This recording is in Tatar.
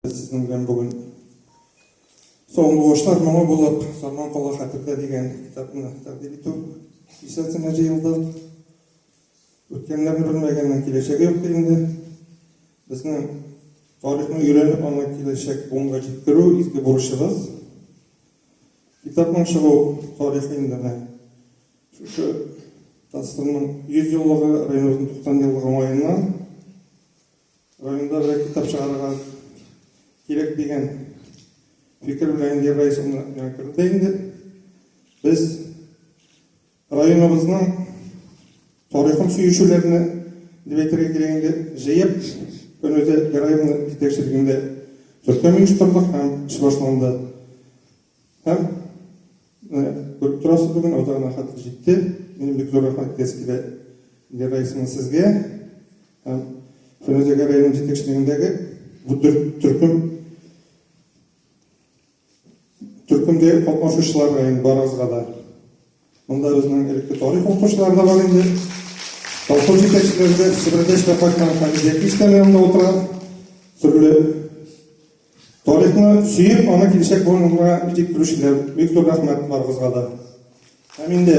Сезнең белән бүген Соңгылышлар моңы булып, Сарман кала хәтертә дигән китапны тәкъдим итү исәсенә җыелдык. Үткәннәрне белмәгәннең киләчәге юк инде. Безнең тарихны өйрәнеп, аны киләчәк буынга җиткерү изге бурычыбыз. Китапның чыгу тарихы инде менә шушы тасвирның 100 еллыгы, Райнурның 90 еллыгы уңаеннан Районда бер китап чыгарырга кирәк дигән фикер белән Индия Раисовна миңа керде инде. Без районыбызның тарихын сөючеләрне дип әйтергә кирәк инде җыеп Көнүзә Гәрәевна җитәкчелегендә төркем оештырдык һәм эш башланды. Һәм күреп торасыз, бүген Алдарына хат җитте. Минем бик зур рәхмәт әйтәсе килә Лера исемле сезгә. Һәм Фәнүзәгә районы җитәкчелегендәге бу төркем төркемдә катнашучылар район барыгызга да Монда безнең элекке тарих укучылары да бар инде. Колхоз җитәкчеләре дә Себердә эшләп кайткан Хәмидия киштәле янында утыра. Төрле тарихны сөеп, аны киләчәк буынга җиткерүчеләр. Бик зур рәхмәт барыгызга да. Һәм инде